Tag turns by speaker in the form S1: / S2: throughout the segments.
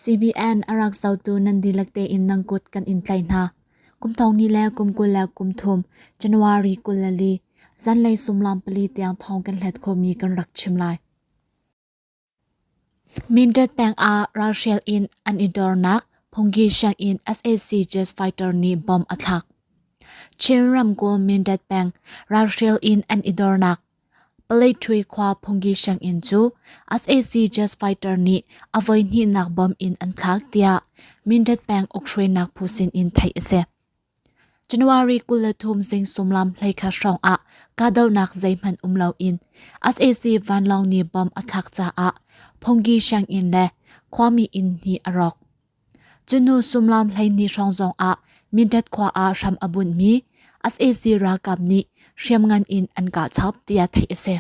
S1: CBN a rak zotu nan dihlak tein nang kut kan in tlaih hna. Kum thongni le kum kul le kum thum January kul le li zanlei sumlam pali tiang thong kan hlet khomi kan rak chim lai. Mindat peng ah ralhrial in an i dornak phungki siang in SAC jazz fighter nih bom a thlak. Chin ramkulh Mindat peng ralhrial in an i dornak Palethui khua phungki sianginn cu sac jazz fighter nih a voihnihnak bomb in an thlak tiah Mindat peng ukhruainak phu sinin theih a si. January kul le thum zing sumlam hleikhat hrawng ah kahdohnak zeihmanh um loin sac vanlawng nih bomb a thlak caah phungki sianginn le khuami inn hnih a rawk. Cunu sumlam hleini hrawng zong ah Mindat khua ah hram a bunmi sac ralkap nih hriamngan in an kah chap tiah theih a si.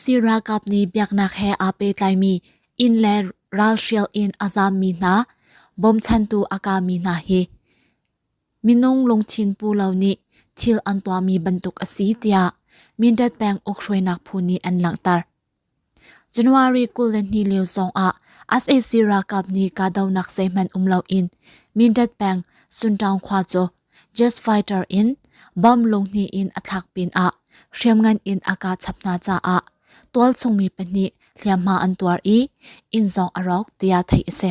S1: sac ralkap nih biaknak he aa pehtlaimi inn le ral hrial in a zammi hna bawmchantu a kami hna hi minung lungthin pu lo nih thil an tuahmi bantuk a si tiah Mindat peng ukhruainak phu nih an langhter. January kul le hnih lio zong ah sac ralkap nih kahdohnak zeihmanh um loin Mindat peng Suntaung khua cu jet fighter in bomb lunghnih in a thlak pin ah hriamngan in a kah chap hna caah tualchungmi pahnih hliamhma an tuar i inn zong a rawk tiah theih a si.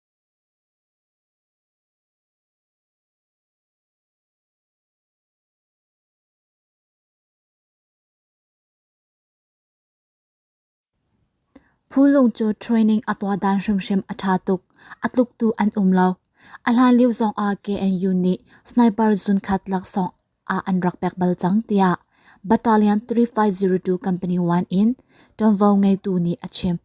S1: Phu lung cu training a tuah dan hrimhrim a ṭha tuk. A tluk tu an um lo. A hlan lio zong ah KNU nih sniper zunkhat laksawng ah an rak pek bal cang tiah Battalion 3502 Company 1 in ṭuanvo ngeitu nih a chim.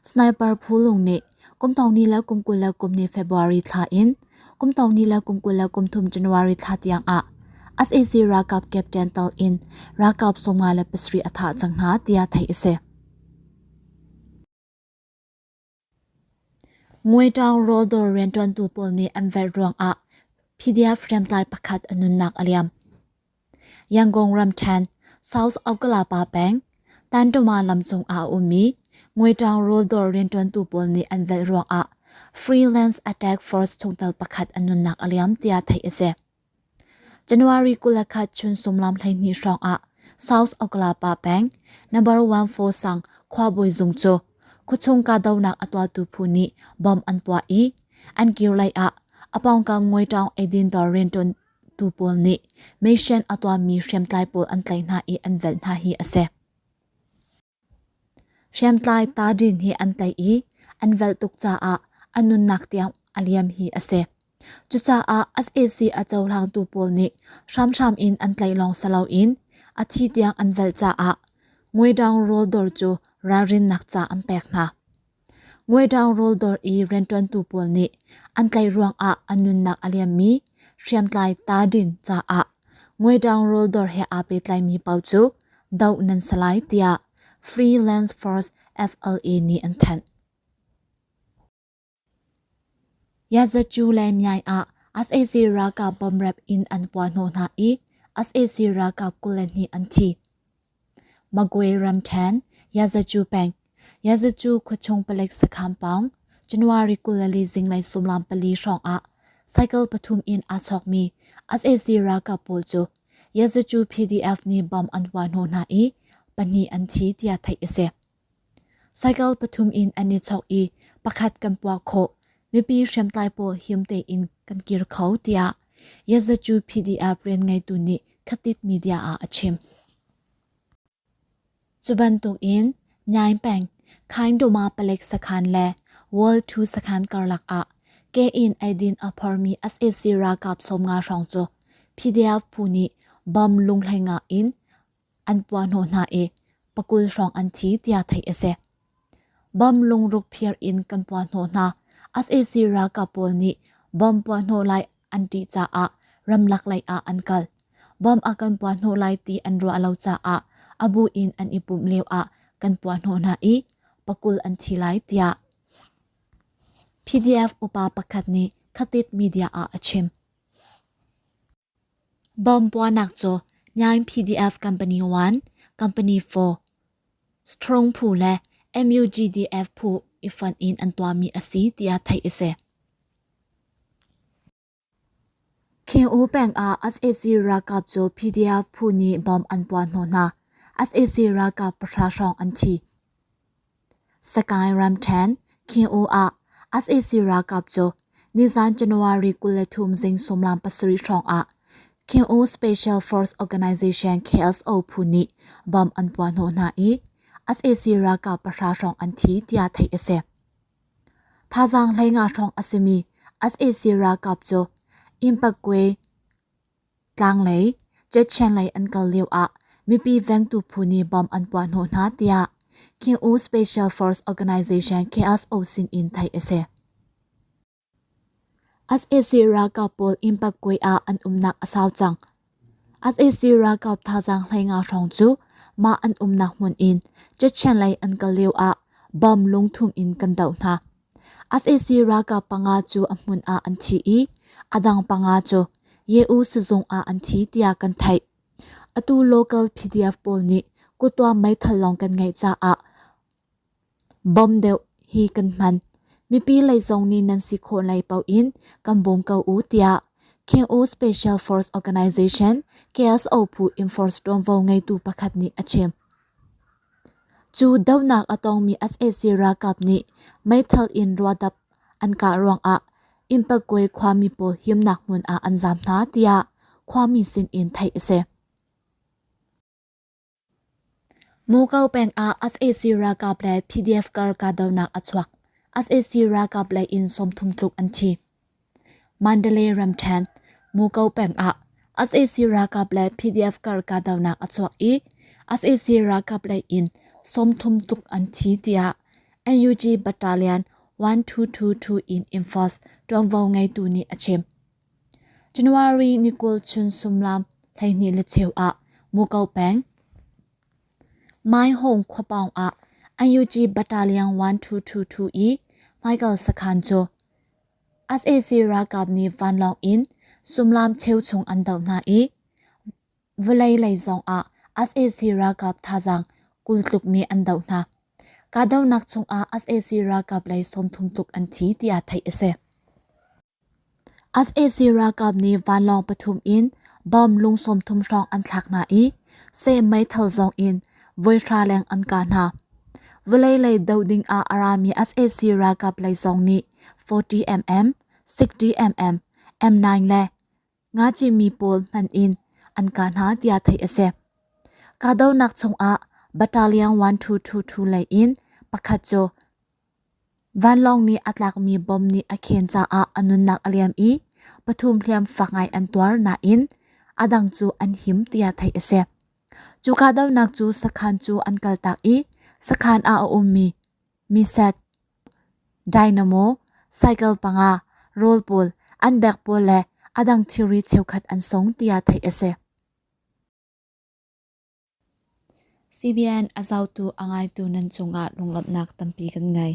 S1: Sniper phu lung nih kum tong ni le kum kul le kum ni February thla in kum tong ni le kum kul le kum thum January thla tiang ah SAC ralkap captain tal in ralkap sawmnga le pasarih a thah cang hna tiah theih a si. Ngwetang rawldor riantuantu pawl nih an velh ruang ah PDF hriamtlai pakhat a nunnak a liam. Yangon ramṭhen, south of Kalapa peng, Tantuma lamcung ah a ummi Ngwetang ruldaw rianṭuantu pawl nih an velh ruangah freelance attack force chungtel pakhat an nunnak a liam tiah theih a si. January kul le khat chun sumlam hleihnih hrawngah south of Kalapa peng number one four sang khuabawi zung cu khuchung kahdohnak a tuahtu phu nih bomb an puah i an kir lei ah apawngkam Ngwetang eidin dawr rianṭuan Tuu pawl nih meisen a tuammi hriamtlai pawl an tlaih hna i an velh hna hi a si. Hriamtlai ta din hi an tlaih i an velh tuk caah a nunnak tiang a liam hi a si. Cucaah SAC a cohlangtu pawl nih hramhram in an tlaih lawng si loin a thi tiang an velh caah Ngweidang rawl dawr cu ralrinnak ca an pek hna. Ngweṭang rawldawr i rianṭuantu pawl nih an tlaih ruangah an nunnak a liammi hriamtlai tadin caah ngweṭang rawldawr he aa pehtlaimi pau cu doh nan si lai tiah Freelance Force FLA nih an thanh. Yazatju le Myai ah sac ralkap bomb rep in an puahhnawh hna i sac ralkap kul le hnih an thi. Magwe ramṭhen, Yazacu peng, Yazacu khuachung palik sakhan pawng, January kul le li zinglei sumlam pali hrawngah cycle pathum in aa chawkmi sac ralkap pawl cu Yazacu PDF nih bomb an huah hnu hna i pahnih an thi tiah theih a si. Cycle pathum in an i chawk i pakhat kan puak khawh. Mipi hriamtlai pawl him tein kan kir kho tiah Yazachu PDF rian ngeitu nih Khatit Media ah a chim. Cu bantukin Nyaing Peng, Khaindoma Palek sakhan le World 2 sakhan karlak ah ke in eidin a phormi SAC ralkap sawm nga hrawng cu PDF phu nih bom lunghleng ah in an puahhnawh hna i pakul hrawng an thi tiah theih a si. Bom lungruk phiar in kan puahhnawh hna. SAC ralkap pawl nih bom puahhnawh lai an ṭih caah ramlak lei ah an kal. Bom a kan puahhnawh lai ti an ruah lo caah a bu in an i pumh lio ah kan puahhnawh hna i pakul an thi lai tiah PDF upa pakhat nih Khatit media ah a chim. Bawm puahnak cu Nyain PDF company one, company four, Strong phu le MUGDF phu i fonh in an tuahmi a si tiah theih a si. Khing-u peng ah SAC ralkap cu PDF phu nih bom an puah hna hna. SAC ralkap pahra hrawng an thi. Sakae ramṭhen Khing-u ah sac ralkap cu nizan January kul le thum zing sawmlam pasarih hrawngah Khing-u Special Force Organization KSO phu nih bom an puah hnawh hna i sac ralkap pahra hrawng an thi tiah theih a si. Thazaang hleinga hrawng a simi sac ralkap cu Impakwe Tlanglei Chechen lei an kal lio ah mipi vengtu phu nih bomb an puah hnawh hna tiah King U Special Force Organization KSO sin in theih a si. SAC ralkap pawl Impakwe ah an umnak a sau cang. SAC ralkap thazaang hleinga hrawng cu mah an umnak hmun in Chechen lei an kal lio ah bomb lungthum in kan doh hna. sac ralkap panga cu a hmun ah an thi i a dang panga cu Yewu sizung ah an thi tiah kan theih. Atu local PDF pawl nih kuttuan meithal lawng kan ngeih caah bom deuh hi kan hman. Mipi lei zong nih nan si khawh lai paoh in kan bawm ko u tiah King'u Special Force Organization KSO phu Enforce ṭuanvo ngeitu pakhat nih a chim. Cu dohnak a tongmi sac ralkap nih meithal in ruadap an kah ruangah Impakwe khuami pawl himnak hmun ah an zaam hna, tiah khuami sinin theih a si. Muko peng ah sac ralkap le PDF kar kahdohnak a chuak. sac ralkap lei in sawmthum tluk an thi. Mandalay ramṭhen Muko peng ah sac ralkap le PDF kar kahdohnak a chuak i sac ralkap lei in sawmthum tuk an thi tiah NUG Battalion 1222 in Imphals ṭuanvo ngeitu nih a chim. January ni kul chun sumlam hleihnih le cheu ah Muko peng Mai Hong khuapawng ah NUG Battalion 1222 i Michael Sakhan cu sac ralkap nih vanlawng in sullam cheu chung an doh hna i vawlei lei zong ah sac ralkap thazaang kultluk nih an doh hna. Kahdohnak chungah sac ralkap lei sawmthum tluk an thi tiah theih a si. sac ralkap nih vanlawng pathum in bomb lung sawmthum hrawng an thlak hna i se meithal zong in voi hra leng an ka hna. Vawlei lei doh ding ah a rami SAC ralkap lei zong nih 40mm, 60mm, M9 le nga cimi pawl hman in an ka hna tiah theih a si. Kahdohnak chung ah battalion 1222 lei in pakhat cu Vanlawng nih a tlakmi bom nih a khen caah a nunnak a liam i pathum hliam fak ngai an tuar nain a dang cu an him tiah theih a si. Cu kahdohnak cu sakhan cu an kaltak i sakhan ah a ummi Miset, Dynamo, cycle panga, rawl pawl, an beg pawl le a dang thilri cheukhat an sung tiah theih a si. CBN a zotu a ngaitu nan cungah lunglawmhnak tampi kan ngei.